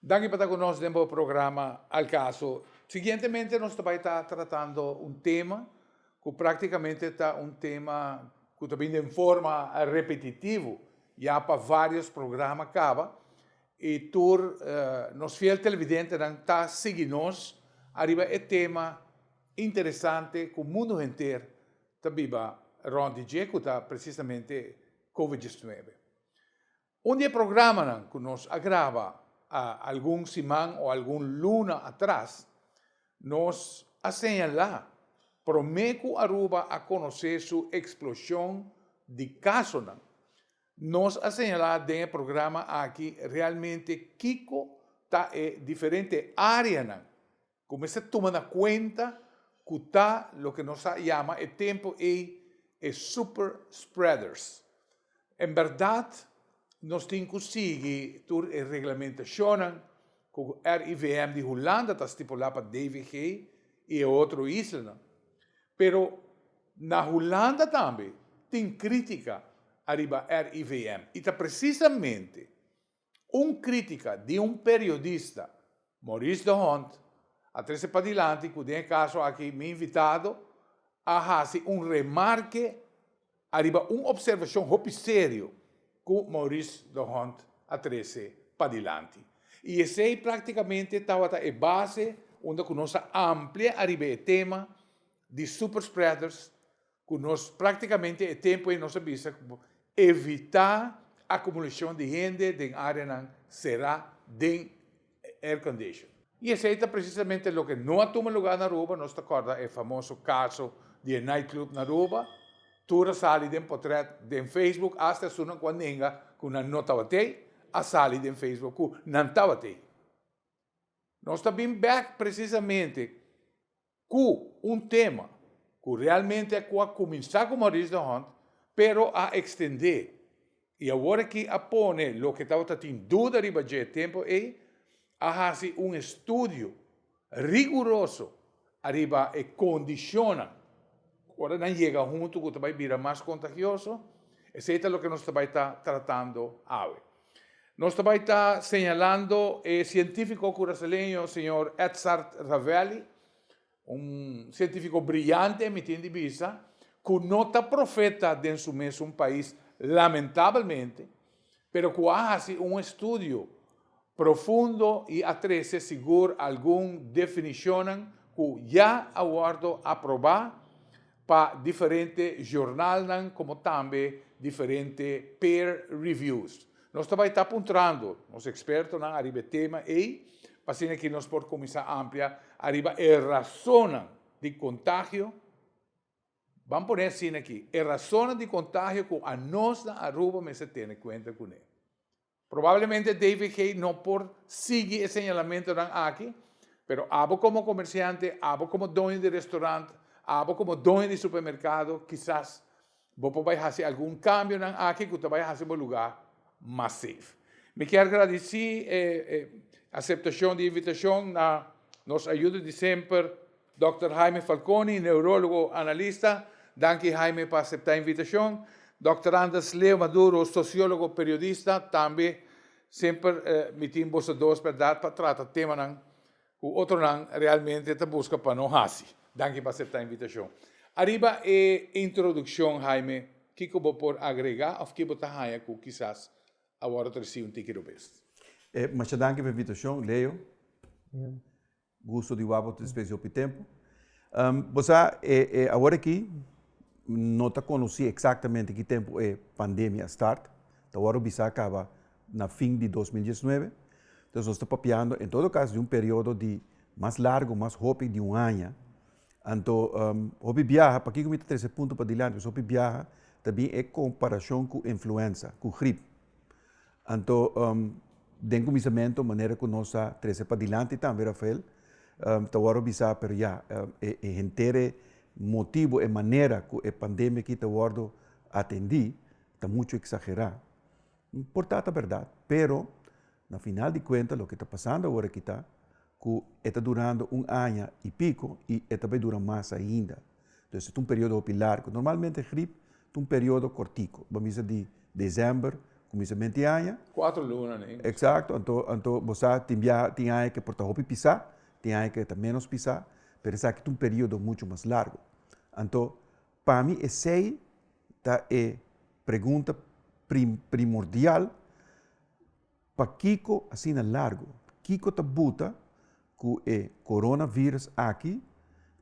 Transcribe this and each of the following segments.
Danki pa ta ku nos den bo programa Al Caso. Siguientemente nos ta bai ta tratando un tema ku praktikamente ta un tema ku ta bini den forma repetitivo ya pa vários programa kaba i tur nos fiel televidentenan ta sigui nos ariba e tema interesante ku mundu henter ta biba rònt di dje ku ta presisamente Covid diecinuebe. Un di e programanan ku nos a graba algun siman o algun luna atras, nos a señalá promé ku Aruba a konosé su eksploshon di kasonan. Nos a señalá den e programa aki realmente kiko ta e diferente áreanan Cu mester tuma na cuenta cu ta loke nos a yama e tempo ey e super spreaders. En berdad nos tin cu sigui tur e reglamentacionnan cu RIVM di Hulanda ta stipula pa DVG y e otro islanan. Pero na Hulanda tambe tin critica ariba RIVM y ta precisamente. Un crítica di un periodista, Maurice de Hond, a trece padilanti cu den e caso aki mi invitado a haci un remarke ariba un observacion hopi serio cu Maurice de Hond a trece padilanti. Y esey practicamente tabata e base unda cu nos a amplia ariba e tema di superspreaders, Ku nos práktikamente e tempu ei nos a bisa ku por evitá akumulashon di hende den áreanan será den aircondition. I esei ta presisamente loke no a tuma lugá na Aruba. Nos ta kòrda e famoso kaso di e nightclub na Aruba. Tur a sali den potrèt den Facebook, asta esunnan ku a nenga ku nan no tabata ei, a sali den Facebook ku nan tabata ei. Nos ta bin bèk presisamente ku un tema ku realmente ku a kuminsá ku Maurice de Hond pero a ekstendé i awor aki a pone loke tabata tin duda riba dje tempu ei, a hasi un estudio riguroso ariba e kondishonnan ora nan yega huntu ku ta bai bira mas kontagioso, esei ta loke nos ta bai ta tratando awe. Nos ta bai ta señalando e cientifico curaceleño señor Edzard Ravelli, un cientifico brillante mi tin di bisa, cu no ta profeta den su mesun pais lamentablemente, pero cu a haci un estudio profundo y a trece sigur algun definicionnan cu ya a wordo aproba, pa diferente jornalnan komo tambe diferente peer reviews. Nos ta bai tap puntrando nos ekspertonan ariba e tema ei pa asina ke nos por kuminsá amplia ariba e rasonnan di kontagio, Ban pone asina aki, e rasonnan di kontagio ku anosnan Aruba mester tene kuenta kuné. Probablemente David Kay no por sigui e señalamentonan aki, pero abo como comerciante, abo como doño di restaurant, abo como doño di supermercado, kisas bo por bay haci algun cambionan aki cu ta bay haci bo lugar mas safe. Mi kier gradici e aceptacion di invitacion na nos ayudo di semper. Dòkter Jaime Falconi, neurologo analista, Danki Jaime pa aseptá invitashon. Dòkter Anders Leo Maduro, sosiólogo, periodista, tambe semper mi tin boso dos bèrdat pa trata temanan ku otronan realmente ta buska pa no hasi. Danki pa aseptá invitashon. Ariba e introdukshon Jaime, kiko bo por agregá òf ke bo ta haña ku kisas awor ta resibi un tiki robes? Masha danki pa invitashon, Leo. Gusto di wak otro despues di hopi tempo. Bo sa e e awor aki no ta conoci exactamente ki tempo e pandemia a start, ta wor a bisa a caba na fin di dos mil diesnuebe, entonces nos ta papiando en todo caso di un periodo di mas largo, mas hopi di un aña, anto hopi biaha, pakico mi ta trece e punto padilanti, pasobra hopi biaha ta bin e comparacion cu influenza, cu grip. Anto, den kuminsamentu, manera ku nos a trese padilanti tambe, Rafael, ta wòrdu bisá, pero ya, e henter e motibu, e manera ku e pandemia aki ta wòrdu atendí ta muchu eksagerá. Por ta ta bèrdat, pero na final di kuenta loke ta pasando awor aki ta ku e ta durando un aña i piko i e ta bai dura mas ainda. Entonces e ta un periodo hopi largo. Normalmente grip ta un periodo cortico, bo a bisa di december, cuminsament di aña. Cuatro luna ni. Exacto, anto, anto bo sa tin biaha, tin aña ke por ta hopi pisa, tin aña ke ta menos pisa, pero esaki ta un periodo mucho mas largo. Anto, pa mi esey ta e pregunta pri-primordial. Pakiko asina largo? Kiko ta buta ku e koronavirus aki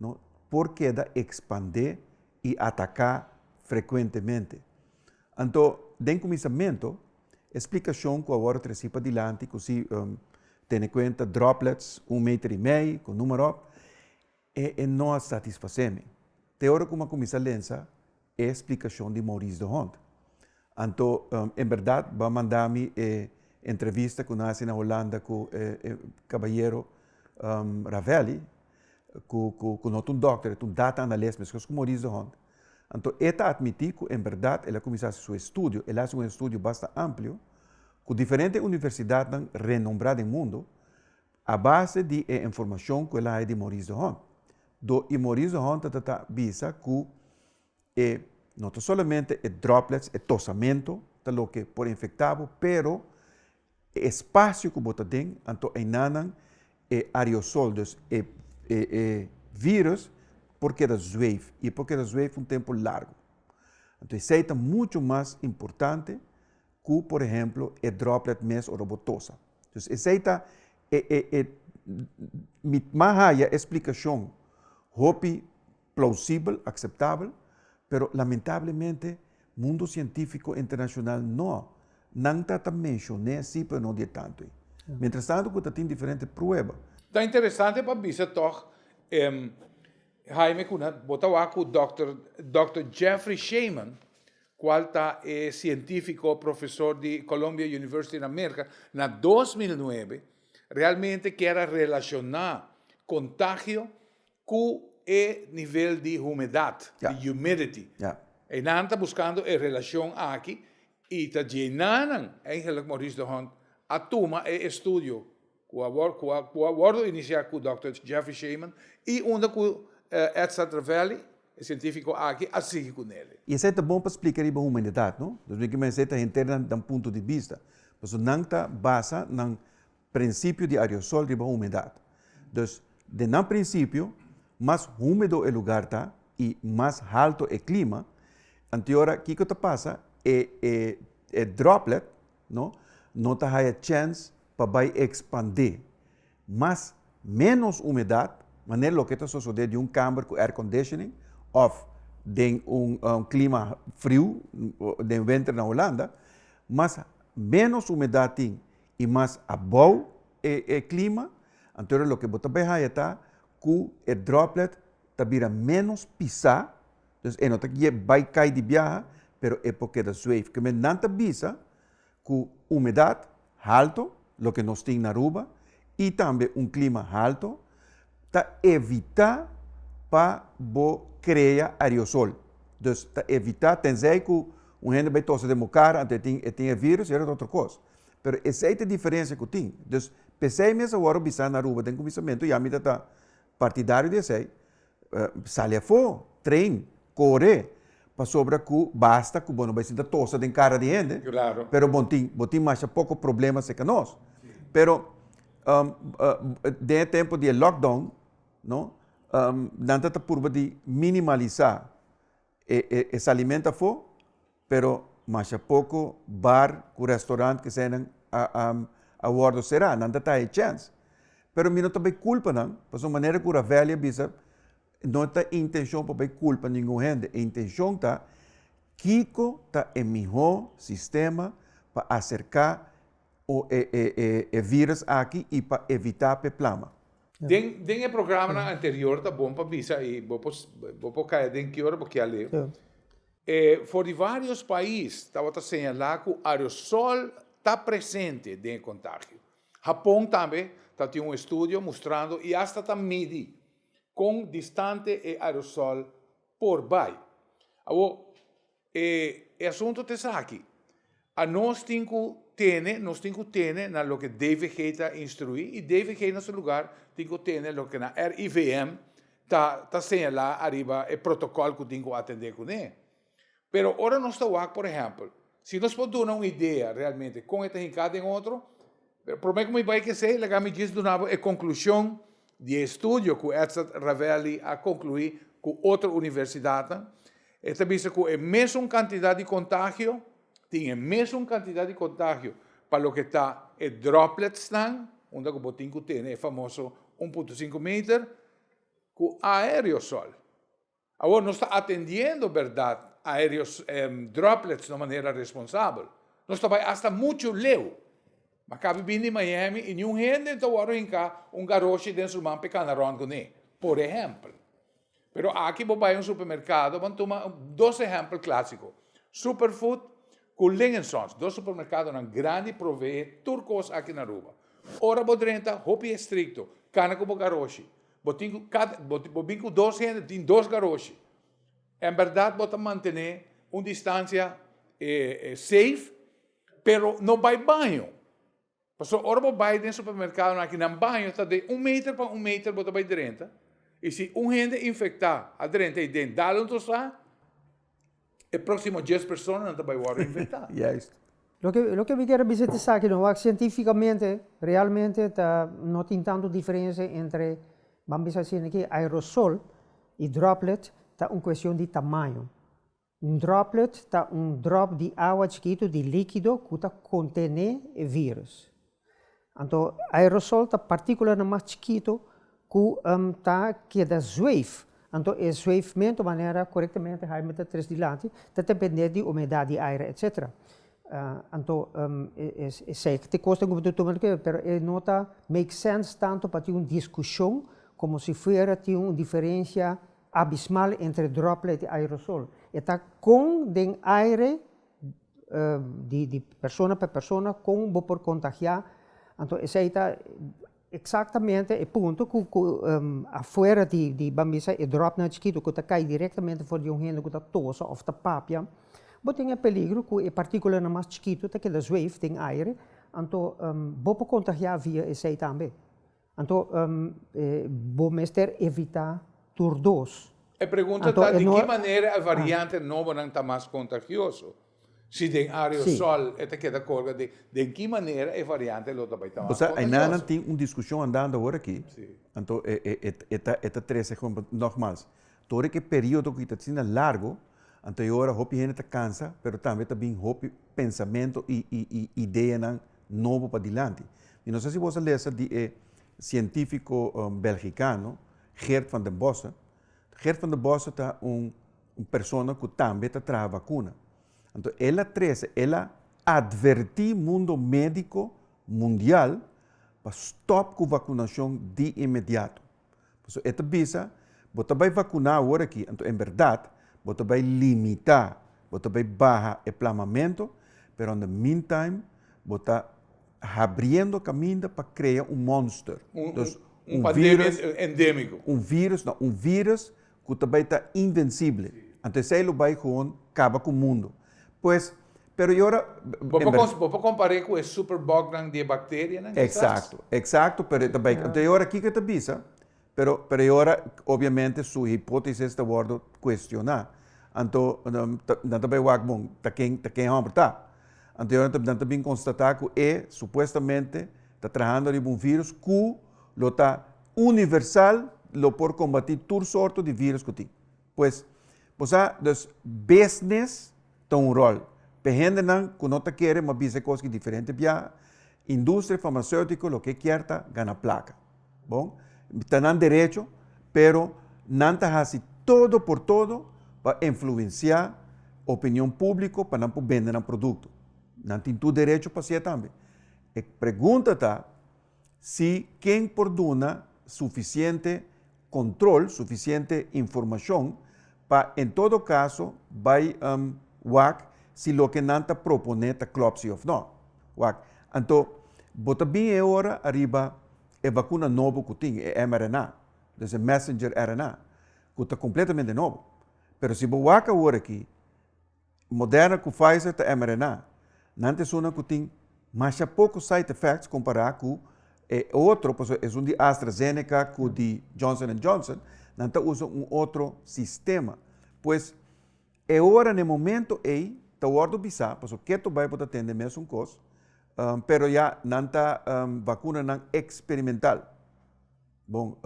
no por keda ekspandé i ataká frekuentemente? Anto den kuminsamentu e splikashon ku a wòrdu trasí padilanti ku si tene kuenta droplets un meter i mei ku númerop E e no a satisfasé mi. Te ora ku mi a kuminsá lensa e splikashon di Maurice de Hond. Anto en bèrdat bo a manda mi e entrevista ku nan a hasi na Holanda ku e e kabayero Ravelli, ku ku ku no ta un dòkter, e ta un data anales meskos ku Maurice de Hond. Anto e ta atmití ku en bèrdat el a kuminsá hasi su estudio, el a hasi un estudio basta amplio ku diferente universidatnan renombrá den mundu, A base di e informashon ku el a haña di Maurice de Hond, do i Maurice de Hond ta ta ta bisa ku e no ta solamente e droplets, e tosamentu ta loke por infektá bo, pero e espasio ku bo ta den, anto einanan e aerosol, dus e e vírùs por keda zweif i e por keda zweif un tempu largu. Anto esei ta muchu mas importante Ku, por ehemplo, e droplet mes ora bo tosa. Dus esei ta e e e mi ta haya e splikashon hopi plausibel, akseptabel, pero lamentablemente mundo sientifiko internashonal no. Nan ta ta menshoné si pero no di e tantu ei. Mientras tanto ku ta tin diferente prueba. Ta interesante pa bisa tòg, Haime Cunha, bo ta wak ku dòkter, dòkter Jeffrey Shaman, cual ta e cientifico profesor di Columbia University na Merca, na dos mil nuebe realmente kier a relaciona contagio cu e nivel di humedad, di humidity. Eynan ta buscando e relacion aki y ta djey na nan, eigenlijk Maurice de Hond a tuma e estudio ku a wordo inisiá ku dòkter Jeffrey Shaman i unda ku Ed Satravelli, e sientífiko aki, a sigui ku Nele. I esei ta bon pa splika riba humanidat, no? Nos bin kiba esei ta henter nan nan punto di bista, pasobra nan ta basa nan prinsipio di ariosol riba humedat. Dus, den nan prinsipio, mas húmedo e lugar ta i mas halto e klima, anteora kiko ta pasa? E e e droplet no, no ta haya chèns pa bai ekspandé mas, ménos umedat, manera loke ta sosodé di un kàmber ku airconditioning òf den un klima friu den wenter na Holanda, mas ménos umedat tin i mas abou e klima, anto loke bo ta bai haya ta ku e droplet ta bira ménos pisá. Dus e no ta ke bai kai di biaha pero e por keda zweef. Kende nan ta bisa ku humedat halto, loke nos tin na Aruba, i tambe un klima halto ta evitá pa bo krea aerosol. Dus ta evitá, tensei ku un hende bai tosa den bo kara anto e tin e tin e vírùs ya ta otro kos. Pero esei ta e diferensia ku tin. Dus p'esei mesa wòrdu bisá na Aruba den kuminsamentu, ya mi ta ta partidario di esei. sali afó, tren, kore, pasobra ku basta ku bo no bai sinta tosa den kara di hende, pero bo tin bo tin masha poko problema serka nos. Pero den e tempu di e lockdown no nan ta ta purba di minimalisá e salimentu afó. pero masha poko bar ku restaurant kesenan a a a wordo sera nan ta ta e chèns pero mi no ta bai kulpa nan pasobra manera ku ravelli a bisa no ta e intenshon pa bai kulpa ningun hende e intenshon ta kiko ta e mihó sistema pa aserka o e e e e virus aki i pa evitá pa e plama. Den den e programanan anterior ta bon pa bisa i bo por bo por kaya den ki ora bo kier lei. E for di varios pais tabata señala cu aerosol ta presente den e contagio. Japon tambe ta tin un estudio mustrando y hasta ta midi con distante e aerosol por bay. Awor, e asunto ta esaki. A Nos tin ku tene, nos tin ku tene na loke DVG ta instruí i DVG na su lugar tin ku tene loke na RIVM ta ta señalá ariba e protokòl ku tin ku atendé kuné. Pero ora nos ta wak, por ehèmpel, si nos por duna un idea realmente kon e ta hinká den otro, Pero prome cu mi bay kesey, laga mi djis duna bo e conclusion di e estudio cu Edzard Ravelli a conclui cu otro universidadnan. E ta bisa cu e mesun cantidad di contagio, tin e mesun cantidad di contagio pa loke ta e dropletsnan, unda cu bo tin cu tene e famoso un punto sinku meter, cu aereosol. Awor nos ta atendiendo berdad aereos droplets na manera responsabel. Nos ta bai hasta mucho leu. Mi a cabe bini Miami y niun hende ta worde hinca un garoshi den su man pe cana rond cuné, por ehempel. Pero aki bo bai un supermercado, bo a tuma dos ehempel clásico, Superfood cu Lingensons, dos supermercadonan grandi provee tur cos aki na Aruba. Ora bo drenta, hopi estricto, cana cu bo garoshi. Bo tin cu cada, bo bo bin cu dos hende tin dos garoshi, en berdad bo ta mantene un distancia safe, pero no bay baño, pasobra ora bo bay den supermercado aki nan baño ta den un meter pa un meter bo ta bay drenta y si un hende infecta a drenta ayi den dal un tosa. E próksimo dies personanan ta bai wòrdu infektá. Juist. Loke mi ker a bisa ta esaki no, wak sientífikamente realmente ta no tin tantu diferensia entre ban bisa asina aki aerosol i droplet ta un kuestion di tamaño. Un droplet ta un dròp di awa chikitu di líkido ku ta kontené e vírus. Anto aerosol ta partíkula na mas chikitu ku ta keda zweef. Anto e zweefmentu manera korektamente hai mester tres dilanti ta dependé di umedat di aire etsetera. Anto esei te kos den ku bo ta tuma kere pero e no ta make sense tantu pa tin un diskushon komo si fuera tin un diferensia abismal entre droplet i aerosol. E ta kon den aire di persona pa e persona kon bo por kontagiá. Anto esei ta eksaktamente e punto ku ku afuera di di ban bisa e dròpnan chikitu ku ta kai direktamente for di un hende ku ta tosa òf ta papia, bo tin e peligro ku e partíkulanan mas chikitu ta keda zweef den aire, anto bo por kontagiá via esei tambe. Anto bo mester evitá tur dos. E pregunta ta di ki manera e variante nobonan ta mas kontagioso? Si den aerosòl e ta keda kolga den, den ki manera e variante lo ta bai ta mas kontagioso? Osea ayna nan tin un diskushon andando awor aki, anto e ta trese komo, nògmals, tur ora ke periodo ku ta asina largu, anto e ora hopi hende ta kansa, pero tambe ta bin hopi pensamentu i ideanan nobo padilanti. I no sa si bos a lesa di e sientifiko belgikano Geert van den Bossche. Geert van den Bossche ta un persona ku tambe ta traha vakuna. Anto el a trese, el a atvertí mundo médiko mundial pa stòp ku vakunashon di inmediato. Pasobra e ta bisa, bo ta bai vacuná awor aki, anto en berdad bo ta bai limitá, bo ta bai baha e plamamento, pero on the mean time bo ta habriendo caminda pa crea un monster, un virus, un virus, no, un virus cu ta bay ta invencible. Anto esey lo bay gewoon caba cu mundo. Pues, pero y ora, Bo en por, bo por compar'é cu e superbugnan di e bacterianan quizás. Exacto, exacto, pero e ta bay, anto y ora kico e ta bisa? Pero, pero y ora obviamente su hipotesis ta wordo cuestiona. Anto, nan ta bay wak bon ta ken, ta ken homber ta? Anto y ora nan ta bin constata cu e supuestamente ta trahando riba un virus cu lo ta. Universal lo por combati tur sorto di virus cu tin. Pues, bo sa, dus business ta un rol. P'e hendenan cu no ta kere mas bisa e cos ki diferente biaha, industria farmaceutico loke e kier ta gana placa. Bon, ta nan derecho, pero nan ta haci todo por todo pa influencia opinion publico pa nan por bende nan producto. Nan tin tur derecho pa haci e tambe. E pregunta ta. Si ken por duna sufisiente control, sufisiente informacion pa en todo caso bay wak si loke nan ta propone ta clop si of no. Wak. Anto bo ta bin e ora ariba e vacuna nobo cu tin, e mRNA, dus e messenger RNA, cu ta completamente nobo. Pero si bo wak awor aki, Moderna ku Pfizer ta mRNA. Nan ta esuna ku tin masha poko side effects kompará ku e otro, pasobra esun di AstraZeneca ku di Johnson and Johnson nan ta usa un otro sistema. Pues e ora na e momento ei ta wòrdu bisá, pasobra keto bai bo ta tende mesun kos, pero ya nan ta vakunanan eksperimental. Bon,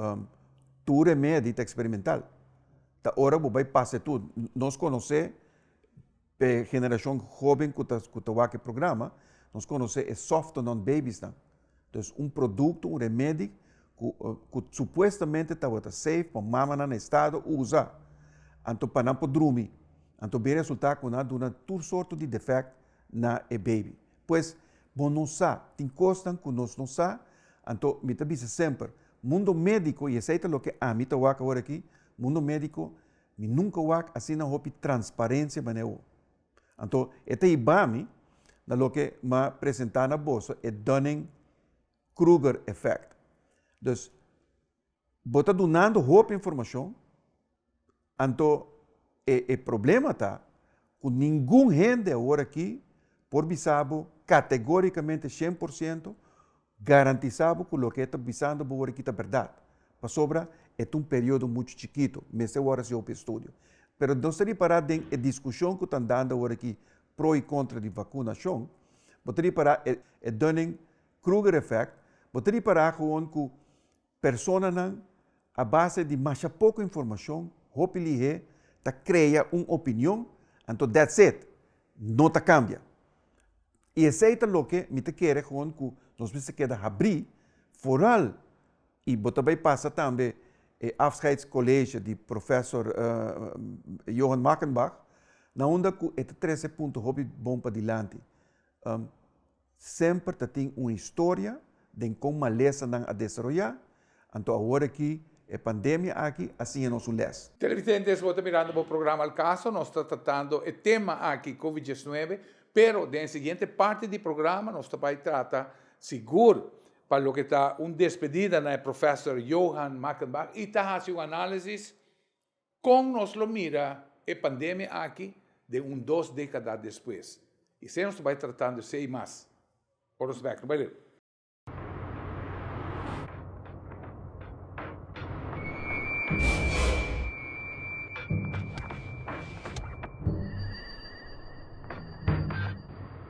tur remedi ta eksperimental. Ta ora ku bo bai pasa e tur. Nos konosé e generashon hoben ku ta wak e programa, nos konosé e sòftonon bebisnan. Entonces un produkto, un remedi ku supuestamente tabata safe pa mamanan na estado usa anto pa nan por drumi. Anto bin resultá ku nan a duna tur sorto di defèkt na e bebi. Pues, bo no sa. Tin kosnan ku nos no sa. Anto mi ta bisa semper, mundo médiko, i esei ta loke ami ta wak awor aki, mundo médiko, mi nunka wak asina hopi transparensia manera awo. Anto e ta hiba mi na loke m'a presentá na boso e Dunning-Kruger effect. Dus, Bo ta dunando hopi informashon, anto e e problema ta ku ningun hende awor aki por bisa bo kategorikamente shen por siento garantisá bo ku loke e ta bisando bo awor aki ta bèrdat, pasobra e ta un periodo muchu chikitu, mester wòrdu hasi hopi estudio. Pero nos ta ripará den e diskushon ku ta andando awor aki pro i kontra di vakunashon, bo ta ripará e e dònen Kruger effect, Bo ta ripará gewoon ku personanan a base di masha poko informashon, hopi lihé, ta krea un opinion, anto that's it, no ta kambia. I esei ta loke mi ta kere gewoon ku nos mester keda habrí foral i bo ta bai pasa tambe e afscheidscollege di Professor Johan Mackenbach na unda ku e ta trese punto hopi bon pa dilanti. Semper ta tin un historia den kon malesanan a desaroyá, anto awor aki e pandemia aki a siña nos un lès. Televidentes, bo ta mirando bo programa El Caso. Nos ta tratando e tema aki, Covid diesnuebe, pero den e siguiente parti di programa nos ta bai trata sigur pa loke ta un despedida na e Professor Johan Mackenbach y ta haci un análisis Kon nos lo mira e pandemia aki den un dos dekada despues? Esei nos ta bai tratando esei mas ora nos bai aki.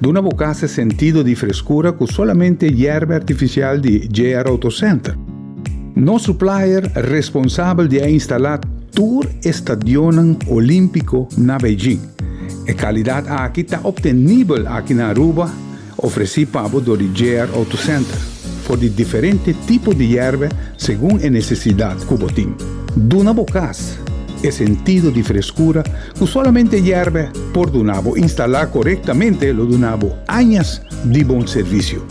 Duna bo casa e sentido di frescura cu solamente yerba artificial di JR Auto Center. Nos supplier responsabel di a instala tur e stadionnan Olimpico na Beijing. E calidad aki ta obtenibel aki na Aruba, ofreci pa bo door di JR Auto Center, for di diferente tipo di yerba segun e necesidad cu bo tin. Duna bo casa e sentido di frescura Cu solamente yerbe por duna bo instala corectamente lo duna bo añas di bon servicio.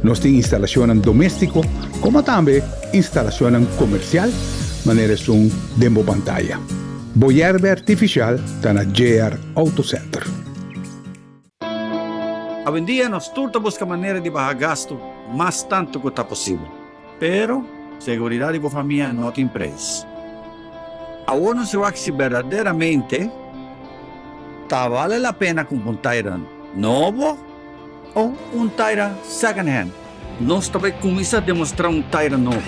Nos tin instalacionnan domestico como tambe instalacionnan comercial manera esun den bo pantaya. Bo yerbe artificial ta na JR Auto Center. Awendia nos tur ta buska manera di baha gastu mas tantu ku ta posibel. Pero, seguridat di bo famia no tin preis. Awor nos a wak si berdaderamente ta bale la pena kumpa un Tayran nobo o un Tayran second hand. Nos ta bai kuminsá demostrá un Tyra nobo,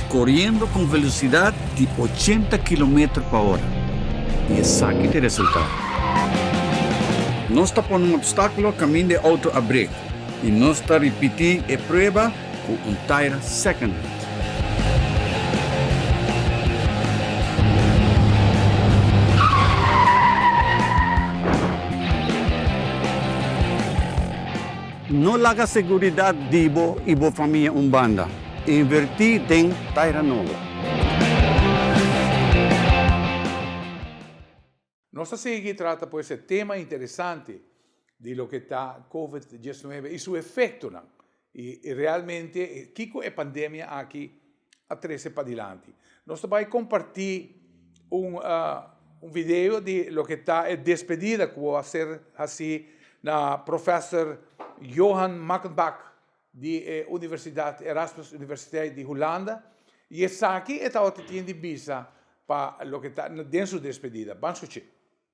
koriendo ku un velosidat di ochenta kilometer pa ora. I esaki ta e resultado. Nos ta pone un opstákulo kaminda e outo a brek i nos ta ripití e prueba ku un Tyra secondhand. No laga seguridat di bo i bo famia un banda. Invertí den Taira Nobo. Nos ta sigui trata pues e tema interesante di loke ta Covid diesnuebe i su efectonan, y realmente kico e pandemia aki, a trese padilanti. Nos ta bai comparti un un video di loke ta e despedida cu bo a ser haci na Professor Johan Makkenbak di e Universidad Erasmus Universiteit di Hulanda y esaki e tabata tin di bisa pa loke ta den su despedida. Ban suchi.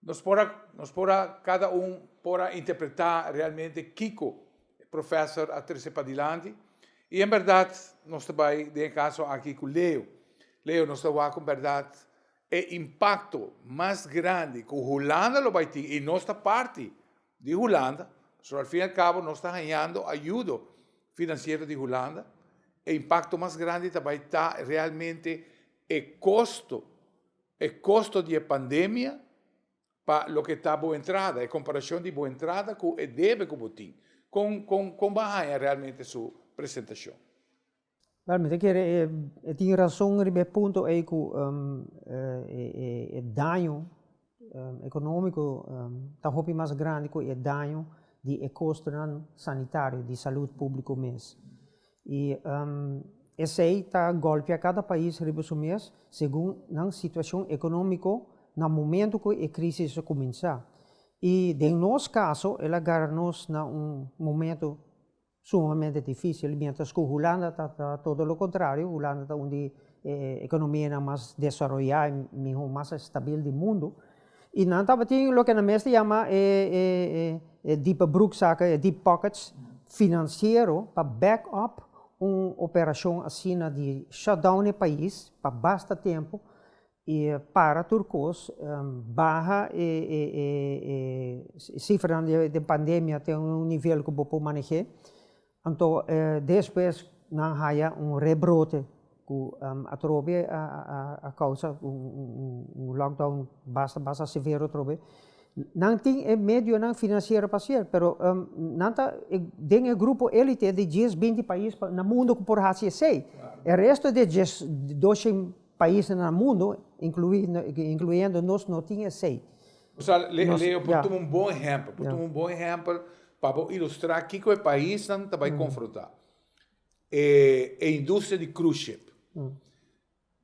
Nos por a, nos por a, cada un por a interpreta realmente kico e professor a trece padilanti. Y en berdad nos ta bay den e caso aki cu Leo. Leo, nos ta wak con berdad e impacto mas grandi cu Hulanda lo bay tin, y nos ta parti di Hulanda, so al fin y al cabo nos ta hañando ayudo financiero di Hulanda, e impacto mas grandi ta bay ta realmente e costo. E kosto di e pandemia pa loke ta bo entrada, e komparashon di bo entrada ku e debe ku bo tin. Kon kon kon bo a haña realmente su presentashon? Bel, mi ta kere e tin rason riba e punto ei ku e daño ekonómiko ta hopi mas grandi ku e daño di e kostonan sanitario, di salud públiko mes. I esei ta golpia kada pais riba su mes segun nan situashon ekonómiko na momentu ku e krísis a kuminsá. I den nos kaso el a gara nos na un momentu sumamente difísil, miéntras ku Hulanda ta todo lo kontrario, Hulanda ta un di e ekonomianan mas desaroyá i mihó, mas stabil di mundu. Y nan tabatin loke nan mester yama e e dipe broekzakken, e deep pockets, financiero pa back up un operacion asina di shut down e pais pa basta tempo y para tur cos, baha e e e e cifranan di pandemia te un nivel cu bo por maneh'é. Anto despues nan haya un rebrote ku atrobe a kousa un lockdown basta basta severo atrobe. Nan tin e medionan finansiero pa hasier pero nan ta den e grupo elite di dies binti pais na mundo ku por hasi esei. E resto di e dies doshen paisnan na mundo, inkluindo nos no tin esei. Sa, le, Leo, por tuma un bon ehèmpel, por tuma un bon ehèmpel pa bo ilustrá kiko e paisnan ta bai konfrontá. E, e industria di cruise ship.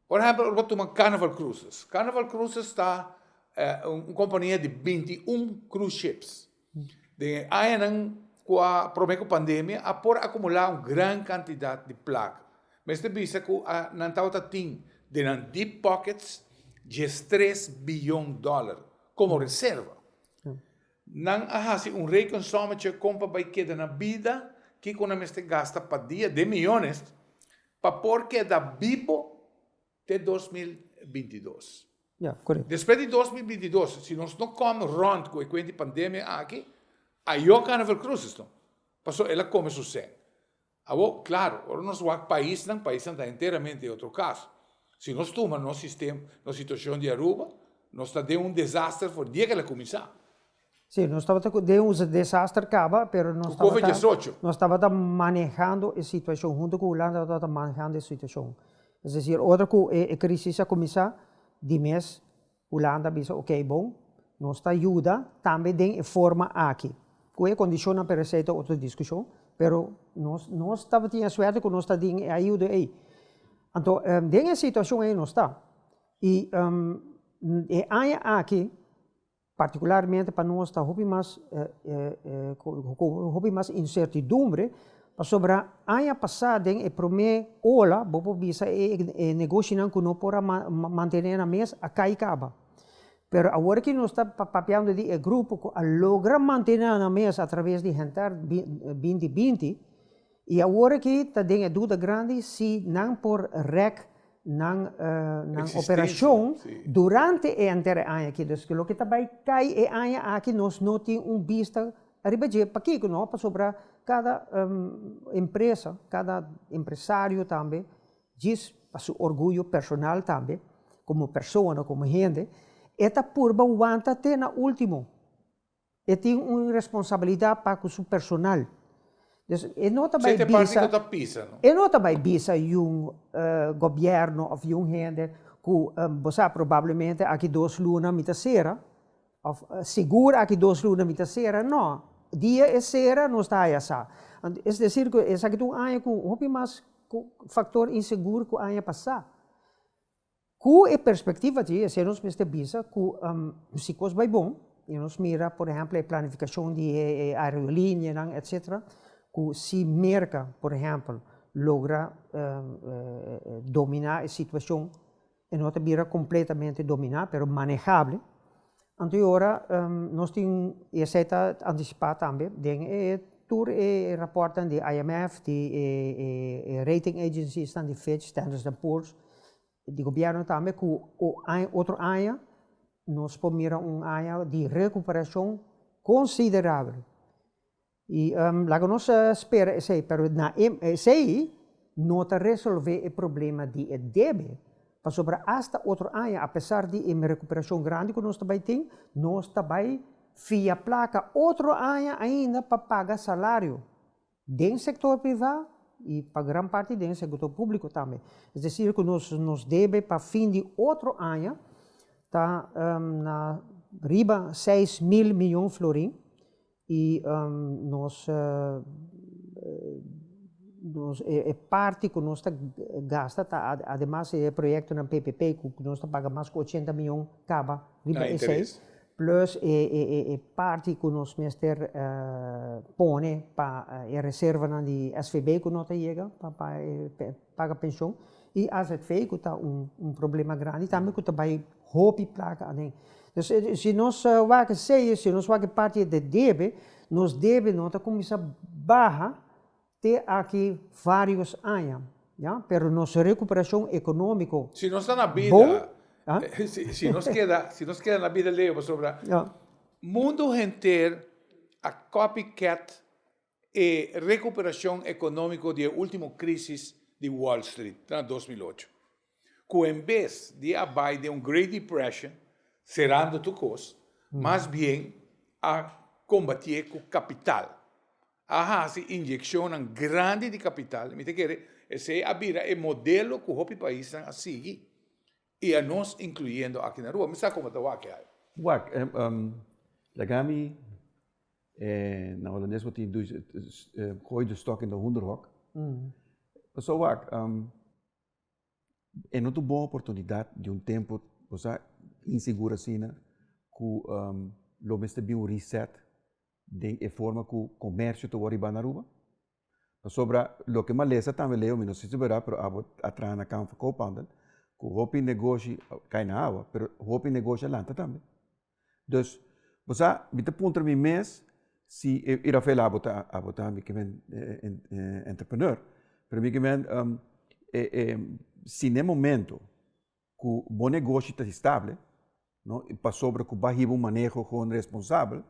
Por ehèmpel, ora bo ta tuma Carnival Cruises. Carnival Cruises ta un kompania di binti un cruise ships. Den e añanan ku a prome ku pandemia a por akumulá un gran kantidat di plaka. Mester bisa ku a nan tabata tin den nan deep pockets dies tres biyon dòler komo reserva. Nan a hasi un rekensommetje kon pa bai keda na bida, kiko nan mester gasta pa dia den miyones pa por keda bibo. te dos mil binti dos. Ya, corect. Despues di dos mil binti dos, si nos no come rond cu e cuent di pandemia aki, ajo Carnaval Cruises no. Paso el a come su sec. Awo, claro, ora nos wak paisnan, paisnan ta enteramente otro caso. Si nos tuma nos sistem, nos situacion di Aruba, nos ta den un desaster for di e ke el a cuminsa. Sí, nos tabata cu den un desaster caba, pero nos tabata... Cu cove diesocho? Nos tabata manejando e situacion, hunto cu Hulanda nos tabata manejando e situacion. Es decir, otro cu e crisis a cuminsa, di mes Hulanda a bisa, ok bon, nos ta yuda tambe den e forma aki. Cu e condicionnan per esey ta otro discusion, pero nos, nos tabatin e suerte cu nos ta den e ayudo ey. Anto, den e situacion ey nos ta. Y e aña aki. Partikularmente pa nos ta hopi mas hopi mas insertidumbre pasobra aña pasá den e promé ola bo por bisa e negoshinan ku no por a mantené nan mes a kai kaba. Pero awor aki nos ta papiando di e grupo ku a logra mantené nan mes atraves di Hentar binti binti. I awor aki ta den e duda grandi si nan por rèk nan nan operashon durante e entèr aña aki. Dus loke ta bai kai e aña aki nos no tin un bista ariba dje. Pakiko no? Pasobra kada empresa, kada empresario tambe djis pa su orguyo personal tambe, komo persona, komo hende, e ta purba wanta te na último. E tin un responsabilidat pa ku su personal. Dus e no ta bai bisa. Sete parti no ta pisa no. E no ta bai bisa yun gobièrnu òf yun hende ku bo sa probablemente aki dos luna mi ta sera òf sigur aki dos luna mi ta sera nò. Dia e sera nos ta haña sa. Es desir ku esaki ta un aña ku hopi mas faktor insegur ku aña pasá. Ku e perspektiva di esei nos mester bisa ku si kos bai bon i nos mira por ehèmpel e planifikashon di e aerolinianan etsetera ku si Merka por ehèmpel logra dominá e situashon e no ta bira kompletamente dominá pero manehable. Anto e ora nos tin e eseta antisipa tambe den e tur e rapòrtnan di IMF, di e rating agenciesnan di Fitch, Standard and Poor's, di gobièrnu tambe ku otro aña nos por mira un aña di rekuperashon konsiderabel. I laga nos a spera esei, pero na e esei no ta resolve e problema di e debe, pasobra asta otro aña apesar di e recuperashon grandi cu nos ta bay tin, nos ta bay fia placa otro aña ainda pa paga salario den sector priva y pa gran parti den sector publico tambe. Es decir cu nos debe pa fin di otro aña ta na riba seis mil miyon florin, I nos e parti ku nos ta gasta ta ademas e proyektonan PPP ku nos ta paga mas ku ochenta mion kaba riba esei, plùs e parti ku nos mester pone pa e reservanan di SVB ku no ta yega pa e paga penshon i azv ku ta un un problema grandi tambe ku ta bai hopi plaka aden. Pues si nos wak seis si nos wak parti de debe nos debe no ta kuminsá baha te aki varios aña ya pero nos rekuperashon ekonomiko bon. Si nos ta na bida si nos keda si nos keda na bida leo pasobra mundo henter a copycat. e rekuperacion economico di e ultimo crisis di Wall Street na dos mil ocho, cu en bes di a bai den un Great Depression serando tur cos, mas bien a combatié cu capital, a haci inyeccionnan grandi di capital, mi ta kere esey a bira e modelo cu hopi paisnan a sigui. I a nos incluyendo aki na rua. Mi sa como ta wak ai. Wak, laga mi e na Holandes bo tin dus gooi de stock in de hoenderhok. Paso wak, e no ta bon oportunidad di un tempo bo sa insegur asina cu lo mester bin un reset den e forma cu comercio ta wor riba na Aruba. Pasobra loke malesa tambe leo mi no si si ta bera pero abo a traha na Camp for Co-Paunding ku hopi negoshi a kai na awa pero hopi negoshi a lanta tambe dus bo sa mi ta puntra mi mes si e Rafael abo ta abo ta mi kimen entrepreneur pero mi kimen e e si na e momento. ku bo negoshi ta estable, no? I pasobra ku bo a hiba un maneho kon responsabel,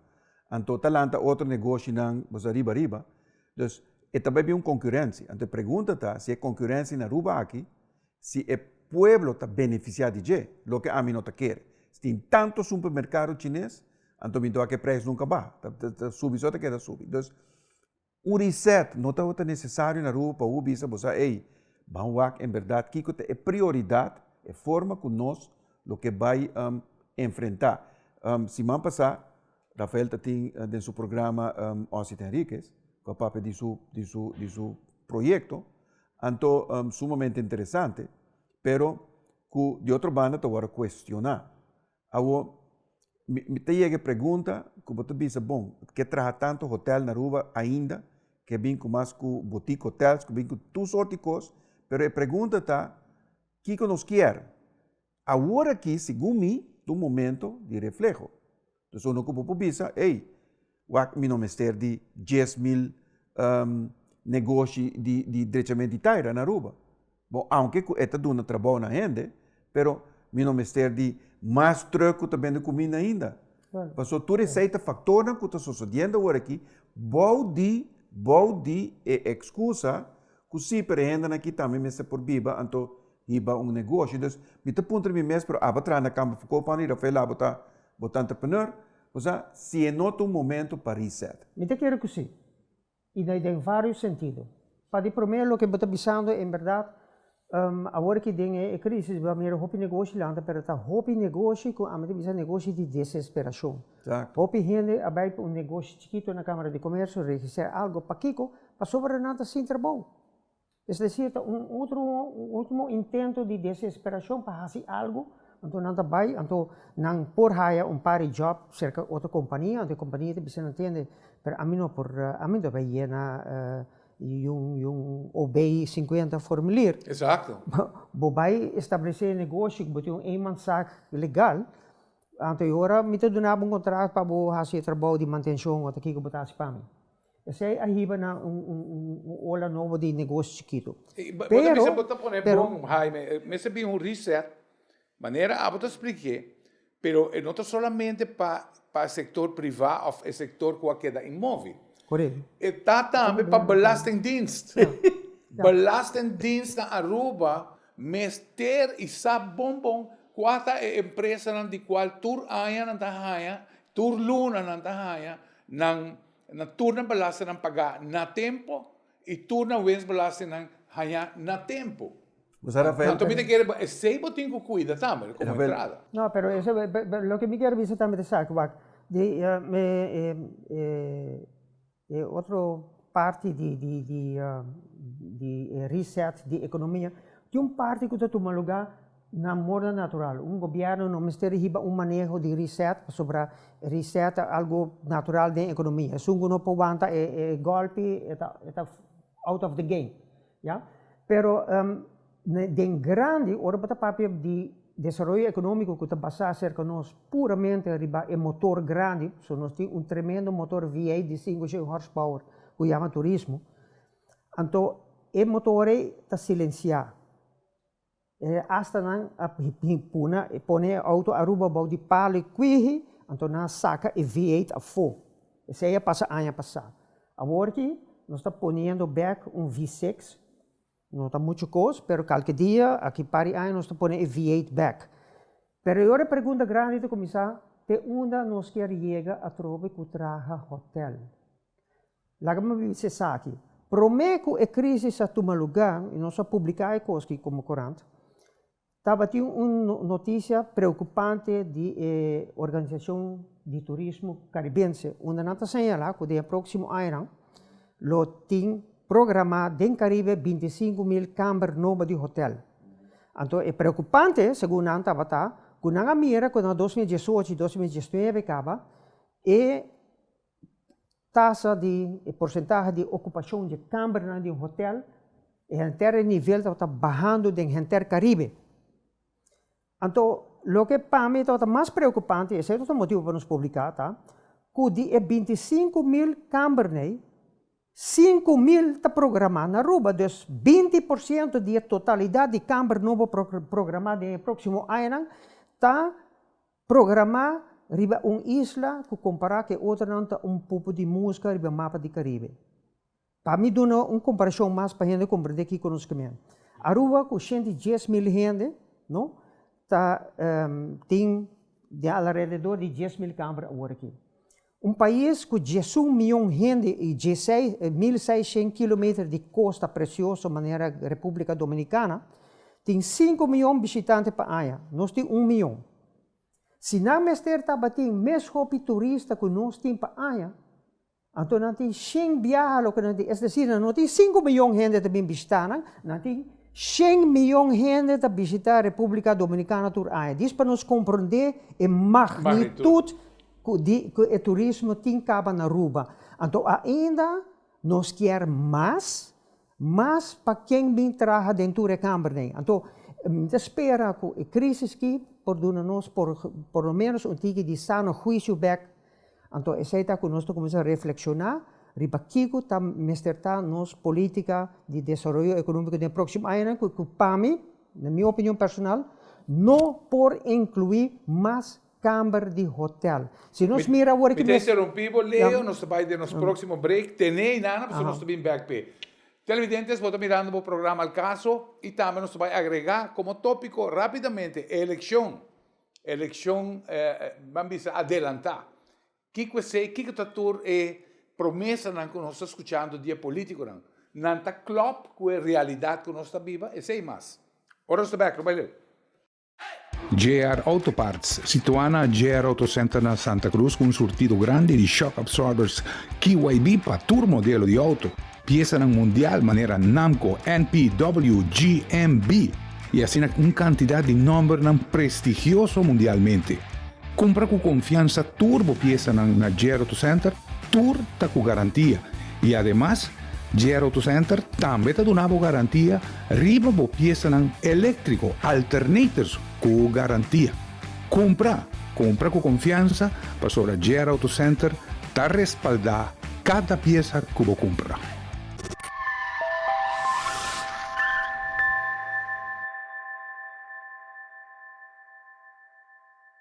anto ta lanta otro negoshinan boso ariba ariba. Dus, e ta bai bin un konkurensia. Anto e pregunta ta, si e konkurensia na Aruba aki, si e pueblo ta benefisiá di dje? Loke ami no ta kere. Si tin tantu supermerkado chines, anto mi ta wak ku e preisnan nunka baha. Ta subi so ta keda subi. Dus. Un reset no tabata nesesario na Aruba pa bo bisa boso, Ey, ban wak en berdad kiko ta e prioridad, e forma ku nos lo ke bai enfrentá. Siman pasá Rafael ta tin den su programa Ossie ta Henriquez, ku a papia di su di su di su proyekto, anto sumamente interesante, pero ku di otro banda ta wòrdu kuestioná. Awor, mi ta yega e pregunta ku bo ta bisa, bon, ke traha tantu hotèl na Aruba ainda, ke a bin ku mas ku botik hotels, ku a bin ku tur sort di kos, pero e pregunta ta, kiko nos kier? Awor aki, segun mi, ta un momento di refleho. Esun ke bo por bisa, ey! Wak mi no mester di dies mil negoshi di di drechament di taira na Aruba. Bo aunke ku e ta duna trabou na hende pero mi no mester di mas truk ku ta bende kuminda ainda. Paso tur esei ta faktornan ku ta sosodiendo awor aki bou di bou di e ekskusa ku si pero e hendenan aki tambe mester por biba anto hiba un negoshi. Dus mi ta puntra mi mes pero aba traha na kampo Foucault Pan Rafael la bo ta bo ta entrepreneur? O sa, si e no ta un momento pa reset. Mi ta kere ku sí, i na den vários sentido. Pa di promé, loke bo ta bisando en bèrdat, awor aki den e krísis bo a mira hopi negoshi lanta, pero ta hopi negoshi ku ami ta bisa negoshi di deseesperashon. Hopi hende a bai pa un negoshi chikitu na Kámara di Komersio, registrá algu. Pakiko? Pasobra nan ta sin trabou. Es desir, ta un utro, un ultimo intento di desesperashon pa hasi algu, anto nan ta bai, anto nan por haya un par di job serka otro kompania, anto e kompania ta bisa nan tende, pero ami no por, ami no ta bay yena yon ob sinkuenta formulier, bo bai establesé e negoshi ku bo tin un eenmanszaak legal, anto e ora mi ta duna bo un kontrato pa bo hasi e trabou di mantenshon, ota kiko bo ta hasi pa mi. Esei a hiba na un ola nobo di negoshi chikitu. Bo ta bisa bo ta pone bon, Haime, mester a bin un reset, manera abo ta splikié, pero e no ta solamente pa e sektor privá òf e sektor ku a keda inmóvil. Korek. E ta tambe pa belastingdienst. Belastingdienstnan Aruba mester i sa bon bon kua ta e empresanan di kual tur aña nan ta haña, tur luna nan ta haña nan Nan tur nan belastingnan pagá na tempu i tur nan wensbelastingnan hañá na tempu. Bo sa Rafael Manto mi ta kere bo esei bo tin ku kuida tambe komo Rafael. entrada. No, pero eso loke mi ker bisa tambe ta esaki, wak, di e otro parti di di di di e reset di ekonomia tin un parti ku ta tuma lugá. Na moda natural. Un gobièrnu no mester hiba un maneho di reset, pasobra e reset ta algu natural den ekonomia. Esun ku no por wanta e gòlpi e ta e ta out of the game, ya. Pero den grandi, ora bo ta papia di desaroyo ekonómiko ku ta basá serka nos puramente riba e motor grandi, pasobra nos tin un tremendo motor V eight di sinku shen hòrspower ku yama turismo, anto e motor ei ta silensiá. E astanan a puna e pone e auto Aruba bou di palo e kwiji, anto nan a saka e V eight afó, esei a pasa aña pasá. Awor aki nos ta poniendo bek un V six, no ta muchu kos pero kalke dia, aki par di aña nos ta pone e V eight bek. Pero e otro pregunta grandi ta kuminsá, te unda nos kier yega atrobe ku traha hotel? Laga mi bisa esaki, promé ku e krísis a tuma lugá i nos a publiká e kos ki komo korant, tabatin un notisia preokupante di e Organisashon di Turismo Karibense, unda nan ta señalá ku den e próksimo añanan lo tin programá den Karibe binti i sinku mil kamber nobo di hotèl. Anto e preokupante segun nan tabata ku nan a mira ku na dos mil diesocho i dos mil diesnuebe kaba e. tasa di e porsentahe di okupashon di e kambernan di un hotèl, e henter e nivel tabata bahando den henter Karibe. Anto, loke pa mi tabata mas preokupante, i esei tabata motibu pa nos publiká, ta ku di e binti i sinku mil kambernei, sinku mil ta programá na Aruba. Dus, binti por siento di e totalidat di kamber nobo por programá den e próksimo añanan ta Programá riba un isla ku kompará ku e otronan ta un pupu di muska riba mapa di Karibe. Pa mi duna un komparashon mas pa hende komprendé kiko nos ke mihá. Aruba ku shenta i dies mil hende, no, ta tin den alarededor di dies mil kamber aworakí. Un pais cu diesun mion hende y diesei mil seishen kilometer di costa precioso manera Republica Dominicana tin sinku mion bishitante pa aña. Nos tin un mion. Si nan mester tabatin mes hopi turista cu nos tin pa aña, anto nan tin shen biaha loke nan tin. Es decir, nan no tin sinku mion hende ta bin bishita nan, nan tin shen mion hende ta bishita Republica Dominicana tur aña. Dis pa nos compronde e magnitud. Cu di cu e turismo tin caba na Aruba, anto ainda nos kier mas, mas pa ken bin traha den tur e kambernan. Anto mi ta spera cu e crisis ki por duna nos por por lo menos un tiki di sano huicio bek, anto esey ta cu nos ta cuminsa reflexiona riba kico ta mester ta nos politica di desaroyo economico den e proximo añanan cu cu pa mi, na mi opinion personal, no por inclui mas Kamer di hotel. Si nos mira awor ki mes. Mi ta interumpí bo Leo, nos ta bai den nos próksimo brek. Tené ayina nan pasobra nos ta bin bèk p'e. Televidentes bo ta mirando bo programa El Caso i tambe nos ta bai agregá komo tópiko rápidamente e elekshon, elekshon ban bisa adelantá. Kiko esei? Kiko ta tur e promesanan ku nos ta skuchando di e polítikonan? Nan ta klòp ku e realidat ku nos ta biba? Esei mas. Ora nos ta bèk, lo bai Leo. JR Auto Parts, situá na JR Auto Center na Santa Cruz cu un surtido grandi di shock absorbers KYB pa tur modelo di auto. Piesanan mundial manera Namco, NP, W, G, M, B y asina un cantidad di nombernan prestigioso mundialmente. Cumpra cu confianza tur bo piesanan na JR Auto Center, tur ta cu garantia y ademas JR Auto Center tambe ta duna bo garantia riba bo piesanan eléktriko, alternators ku garantia. Kumpra, kumpra ku konfiansa pasobra JR Auto Center ta respaldá kada piesa ku bo kumpra.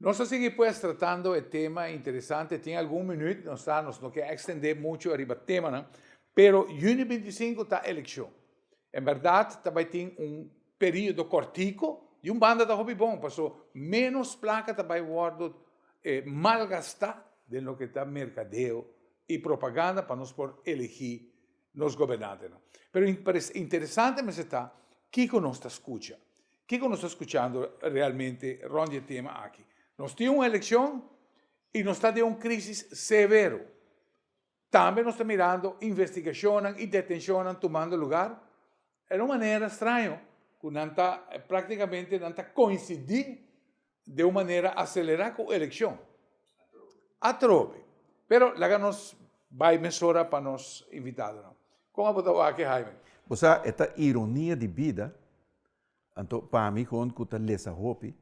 Nos ta sigui pues tratando e tema interesante, tin algun minüt nos ta, nos no ke ekstendé muchu ariba temanan, pero yüni binti sinku ta elekshon. En bèrdat ta bai tin un periodo kòrtiku, di un banda ta hopi bon, paso ménos plaka ta bai wòrdu malgastá den loke ta merkadeo i propaganda pa nos por elegí. nos gobernantenan. Pero interesante mester ta kiko nos ta skucha, kiko nos ta skuchando realmente rond di e tema aki. Nos tin un elekshon i nos ta den un krisis severo. Tambe nos ta mirando investigashonnan i detenshonnan tumando lugar. E na un manera straño ku nan ta, praktikamente nan ta koinsidí den un manera aselerá ku elekshon atrobe. Pero laga nos bai mesora pa nos invitadonan. Kon abo ta wak e Haime? Osa e ta ironia di bida, anto pa mi hon ku ta lesa hopi,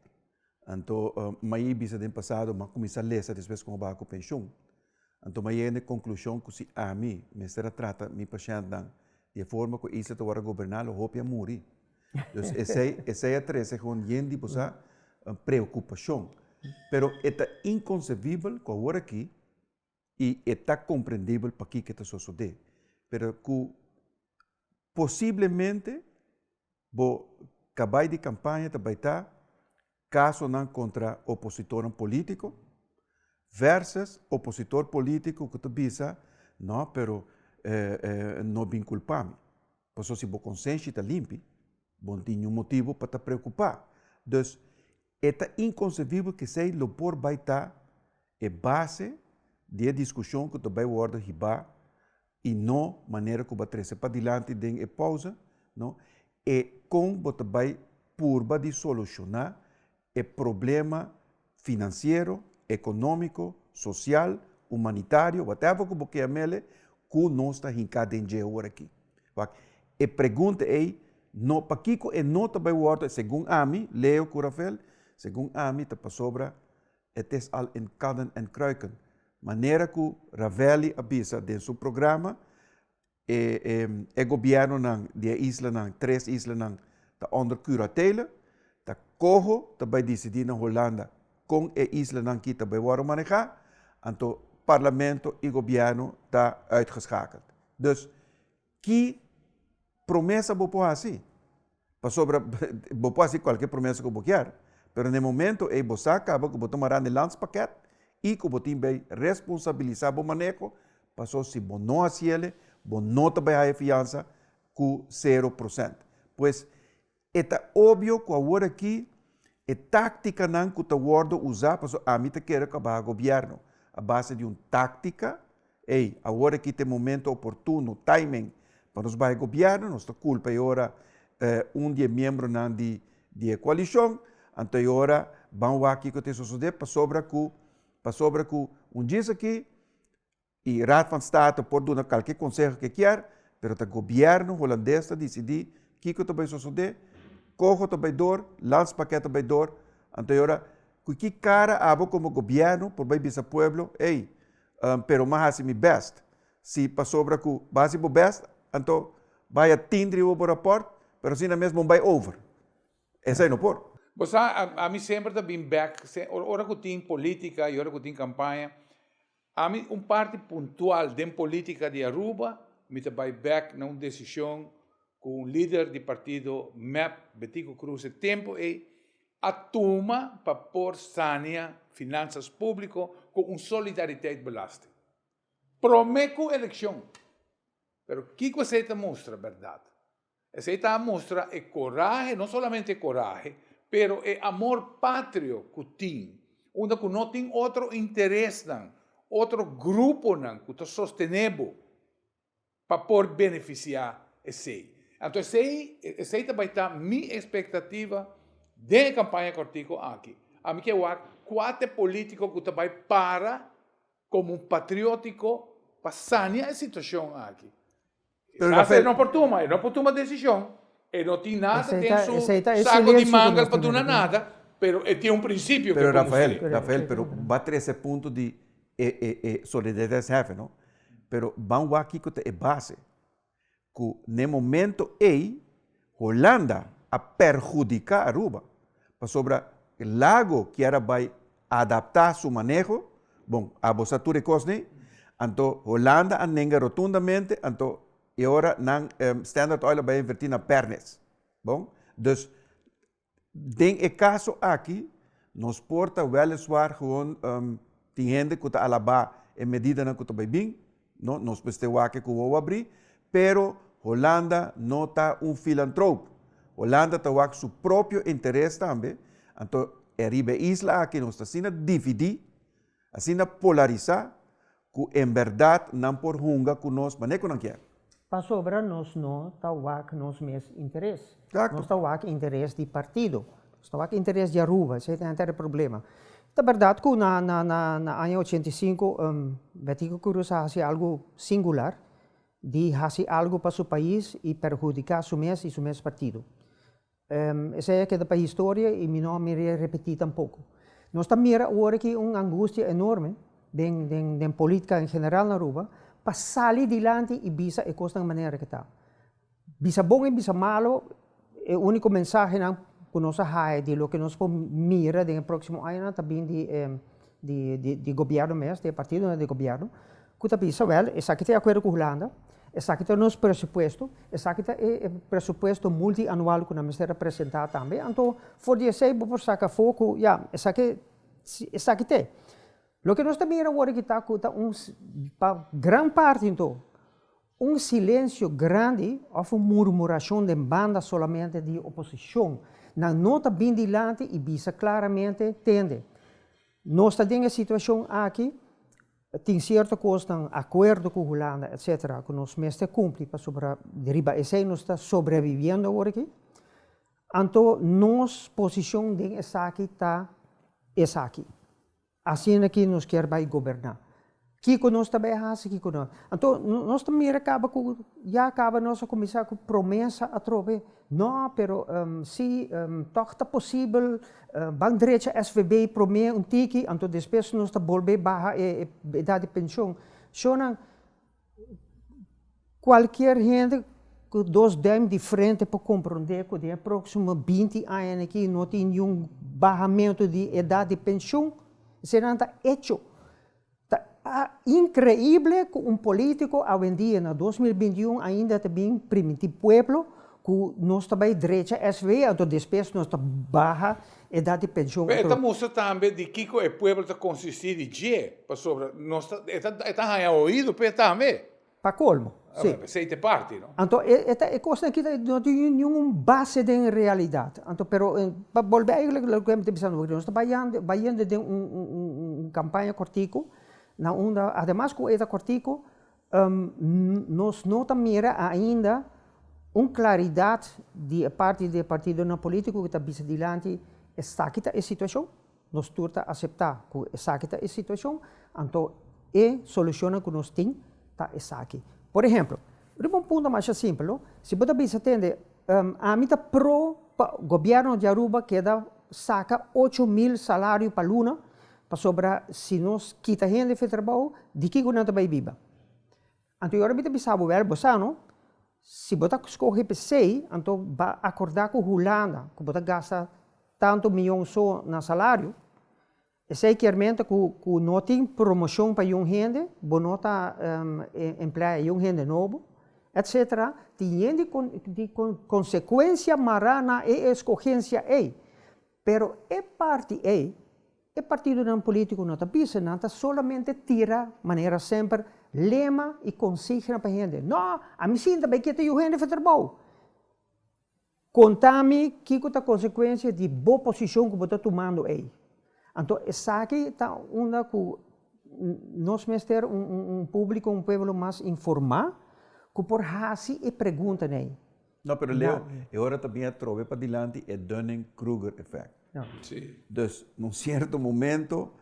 anto mai bisa den pasado mi a kuminsá lesa despues ku mi a baha ku penshun. Anto m'a yega na e konklushon ku si ami mester a trata mi pashèntnan di e forma ku e isla ta wòrdu a goberná lo hopi a muri. Dus esei esei a trese kon yen di bosa preokupashon. Pero e ta inkonsebibel ku awor aki i e ta komprendibel pakiko e ta sosodé. Pero ku Posiblemente bo ta bai di campaña ta bai ta casonan contra opositornan politico versus opositor politico cu ta bisa no pero no bin culpa mi pasobra si bo consenshi ta limpi bo no tin ningun motibo pa ta preocupa dus e ta inconcebible kesey lo por bai ta e base di e discusion cu ta bai wordo hiba y no manera cu bo a trece padilanti den e pausa, no e con bo ta bay purba di soluciona e problema financiero, economico, social, humanitario, whatever cu bo kea mele, cu nos ta hinca den dje hora aki. Wak, e pregunta ey no, pakico e no ta bay wordo, segun ami, Leo cu Rafael, segun ami ta pasobra. Het is al in kadden en kruiken, manera ku Ravelli a bisa den su programa, e e e gobièrnunan di e islanan, tres islanan, ta ùnder kuratele, ta koho ta bai disidí na Holanda kon e islanan ki ta bai wòrdu manehá, anto parlamento i gobièrnu ta uitgeskakeld. Dus, Ki promesa bo por hasi? Pasobra bo por hasi kualke promesa ku bo kier, pero na e momento ei bo sa kaba ku bo ta mará na e landspaket i ku bo tin bai responsabilisá bo maneho, paso si bo no hasiele bo no ta bai haña fiansa ku sero prosènt. Pues, E ta obio ku awor aki e táktikanan ku ta wòrdu usá pasobra ami ta kere ku a baha gobièrnu a base di un táktika, ey, awor aki ta e momentu oportuno, timing, pa nos bai gobièrnu, nos ta kulpa e ora un di e miembronan di di e koalishon, anto e ora ban wak kiko ta e sosodé pasobra ku pasobra ku un djis aki E Raad van State por duna kalke konseho ke kier, pero ta gobièrnu Holandes ta disidí kiko ta bai sosodé, koho ta bai dor, landspakket ta bai dor. Anto e ora, ku ki kara abo komo gobièrnu por bai bisa pueblo, ey, pero m'a hasi mi bèst? Si pasobra ku bo hasi bo bèst, anto bai a tindri riba bo rapòrt, pero asina mes bo bai over? Esei no por. Bo sa, ami semper ta bin bèk, ora ku tin polítika i ora ku tin kampaña, Ami un parti puntual den politica di Aruba, mi ta bay bek na un decision cu un lider di partido mep, Betico Cruz e tempo ey, a tuma pa por sania finanzas publico cu un solidariteit belasting. Prome cu eleccion! Pero kico esey ta mustra berdad? Esei ta a mustra e corahe, no solamente e corahe, pero e amor patrio cu tin, unda cu no tin otro interesnan, otro gruponan cu ta sostene bo pa por beneficia esei. Anto esei, esei ta bay ta mi expectativa den e campaña cortico aki. Ami ke wak cua t'e politico cu ta bay para como un patriotico pa sania e situacion aki. Pero Rafael. Rafael no por tuma, e no por tuma decision, e no tin nada den su saco di manga pa duna nada, pero e tin un principio cu e por cumpli. Pero Rafael, pero ba trece e punto di e e e solidaridad es hefe no, pero ban wak kico ta e base cu n'e momento ey Holanda a perhudiká Aruba pasobra lago kier a bai adaptá su maneho, bon, abo sa tur e kos nei, anto Holanda a nenga rotundamente, anto e ora nan, Standard Oil a bai a invertí na Pernis, bon, dus. Den e kaso aki, nos por ta wèleswaar gewoon tin hende ku ta alabá e medidanan ku ta bai bin, no, nos mester wak e kuwou a bri, pero Holanda no ta un filantroop. Holanda ta wak su propio interes tambe, anto e riba e isla aki nos ta asina dividí, Asina polarisá ku en bèrdat nan por hunga ku nos manera ku nan kier. Pasobra nos no ta wak nos mes interes. Nos ta wak interes di partido. Nos ta wak interes di Aruba. Esei ta henter e problema. Ta bèrdat ku na aña ochenta i sinku Betico Cruz a hasi algu singular di hasi algu pa su pais i perhudiká su mes i su mes partido. Esei a keda pa historia i mi no a mira e repetí tampoko. Nos ta mira awor aki un angustia enorme den den politka en general na Aruba pa sali dilanti i bisa e kosnan manera ke ta. Bisa bon i bisa malo e úniko mensahenan ku nos a haña di loke nos por mira den e próksimo añanan ta bin di e. di gobierno mes, di e partidonan di gobierno, ku ta bisa, wèl, esaki ta e akuerdo ku Hulanda, esaki ta nos presupuesto, esaki ta e presupuesto multianual ku nan mester a presentá tambe. Anto, for di esei bo por saka afó ku ya, esaki esaki t'e. Loke nos ta mira awor aki ta ku ta un, pa gran parti anto, Un silensio grandi of un murmurashon den banda solamente di oposishon, nan no ta bin dilanti i bisa klaramente, tende, nos ta den e situashon aki, tin sierto kosnan, akuerdo ku Hulanda etc. Ku nos mester kumpli pasobra riba esei nos ta sobreviviendo awor aki, anto nos posishon den esaki ta esaki. Asina ki nos kier bai goberná. Kiko nos ta bai hasi, kiko no. Anto nos ta mira kaba ku ya kaba nos a kuminsá ku promesa atrobe. No, pero sí, tòg ta posibel, ban drecha SVB promé un tiki, anto despues nos ta bolbe baha e edat di penshon. Shownan. Cualkier hende cu dos duim di frente por comprende cu den e proximo binti aña na ki no tin niun bahamento di edad di pensioen, esayinan ta hecho. Ta increible cu un politico awendia na dos mil binti un ainda ta bin primiti pueblo cu nos ta bay drecha SVO, ato despues nos ta baha Edat di penshon a. E ta mustra tambe di kiko e pueblo ta konsistí di dje, pasobra nos ta, e ta, e ta haña oído p'e tambe. Pa kolmo, sí. P'esei ta e parti, no? Anto e, e ta, e kosnan akí ta, no tin niun un base den e realidat. Anto, pero, pa bolbe ey lo, loke mi ta bisa ando, nos ta bayando, bayendo den un, un, un, un, un kampaña kòrtiku, na unda, ademas ku e ta kòrtiku, Nos no ta mira ainda un claridad di e parti di e partidonan politico cu ta bisa dilanti esaki ta e situacion, nos tur ta acepta cu esaki ta e situacion, anto e solucionnan cu nos tin ta esaki. Por ehemplo, bo ta pon un punto masha simpel no, si bo ta bisa tende ami ta pro pa gobierno di Aruba keda saca ocho mil salario pa luna, Pasobra si nos kita hende fi trabou, di kiko nan ta bai biba? Anto i ora mi ta bisa bo, Wèl, bo sa no, si bo ta skohe p'esei, anto ba akordá ku Hulanda, ku bo ta gasta tantu miyon so na salario. Esei kiermente ku ku no tin promoshon pa yon hende, bo no ta empleá e yon hende nobo, etsetera. Tin yen di konsekuensia mará na e eskogensia ei. Pero e parti ei, e partidonan polítiko no ta bisa, nan ta solamente tira, manera semper, lema i konsigna pa e hende, No, ami sinta bai kita yu hende for trabou. Konta mi kiko ta konsekuensia di bo posishon ku bo ta tumando ei. Anto esaki ta unda ku nos mester un públiko, un pueblo mas informá ku por hasi e preguntanan ei. No, pero Leo, e ora ta bin atrobe pa dilanti e Dunning-Kruger effect. Sí. Dus, na un sierto momento,